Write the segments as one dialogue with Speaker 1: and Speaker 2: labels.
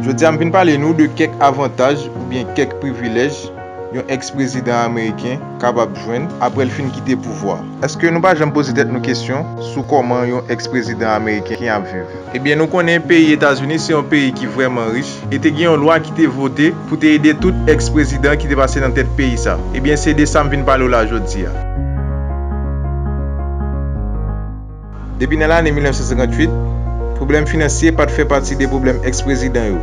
Speaker 1: Jodi a m vin pale nou de kèk avantaj oubyen kèk privilèj yon ex prezidan ameriken kapab jwenn aprè l fin kite pouvwa a. Eske nou pa janm poze tèt nou kesyon sou kòman yon ex prezidan ameriken ap viv? Ebyen nou konnen peyi Etazini se yon peyi ki vrèman rich e te gen yon lwa ki te vote pou te ede tout ex prezidan ki te pase nan tèt peyi sa. Ebyen se de sa m vin pale w la jodi a. Depi nan lane 1958, pwoblèm finansye pa t fè pati de pwoblèm ex-prezidan yo,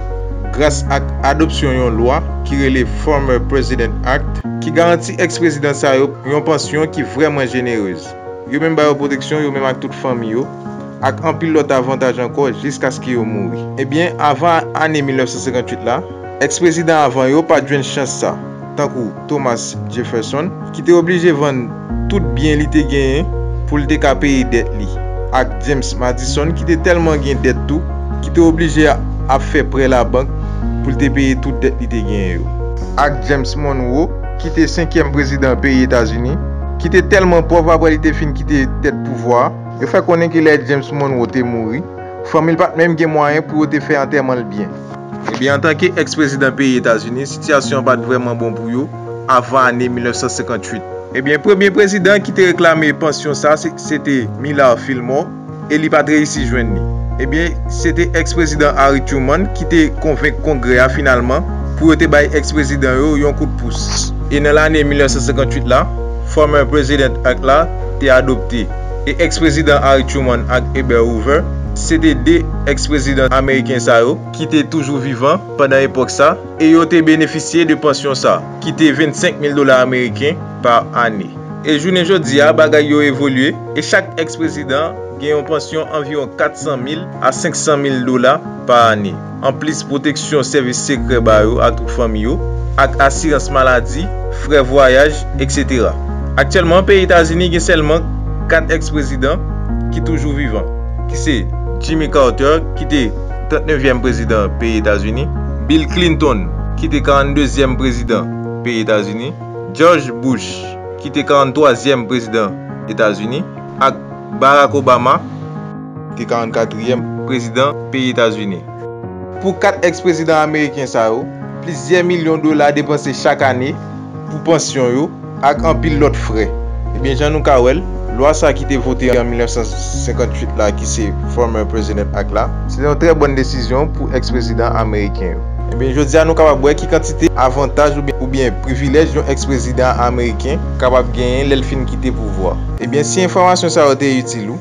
Speaker 1: gras ak adopsyon yon lwa ki rele Former President Act, ki garanti ex-prezidan sa yo yon pansyon ki vrèman jenerez. Yo menm ba yo pwoteksyon, yo menm ak tout fanmi yo, ak anpil lòt avantaj ankò jiskaske yo mouri. Ebyen, avan ane 1958 la, ex-prezidan avan yo pa t jwenn chans sa. tankou Thomas Jefferson, ki te oblije vann tout byen li te genyen pou l te ka peye dèt li, ak James Madison ki te tèlman gen dèt tou ki te oblije ap fè prè labank pou l te peye tout dèt li te genyen yo, ak James Monroe, ki te senkyèm prezidan peyi Etazini, ki te tèlman pòv apre li te fin kite tèt pouvwa a. Yo fè konnen ke lè James Monroe te mouri, fanmi l pa t menm gen mwayen pou yo te fè antèman l byen. Ebyen antanke ex prezidan peyi Etazini, sitiyasyon an pat vrèman bon pou yo avan ane 1958. Ebyen premye prezidan ki te reklame pansyon sa se te Millard Fillmore e li pat reyisi jwenn li. Ebyen se te ex prezidan Harry Truman ki te konvenk kongrè a finalman pou yo te bay ex prezidan yo yon kout pous. E nan lane 1958 la, Former President Act la te adopte. e ex-prezidan Harry Truman ak Herbert Hoover se te 2 ex-prezidan ameriken sa yo ki te toujou vivan pandan epòk sa e yo te benefisye de pansyon sa ki te 25 mil dola ameriken pa ane. E jounen jodi a bagay yo evolye e chak ex-prezidan gen yon pansyon anviwon 400 mil a 500 mil dola pa ane. anplis pwoteksyon sèvis sekrè ba yo atout fanmi yo, ak asirans maladi, frè vwayaj, etc. Aktyèlman, peyi Etazini gen sèlman 4 ex-prezidan ki toujou vivan, ki se, Jimmy Carter, ki te 39 vyèm prezidan peyi Etazini, Bill Clinton, ki te 42 zyèm prezidan peyi Etazini, George Bush, ki te 43 zyèm prezidan Etazini, ak Barack Obama. te 44 trièm prezidan peyi Etazini. Pou 4 ex prezidan ameriken sa yo, plizyè milyon dola depanse chak ane pou pansyon yo ak anpil lòt frè. Ebyen jan nou ka wèl, lwa sa ki te vote an 1958 la ki se Former President Act la, se te yon trè bòn desizyon pou ex prezidan ameriken yo. Ebyen jodi a nou kapab wè ki kantite avantaj oubyen privilèj yon ex prezidan ameriken kapab genyen lèl fin kite pouvwa. Ebyen si enfòmasyon sa yo te itil ou,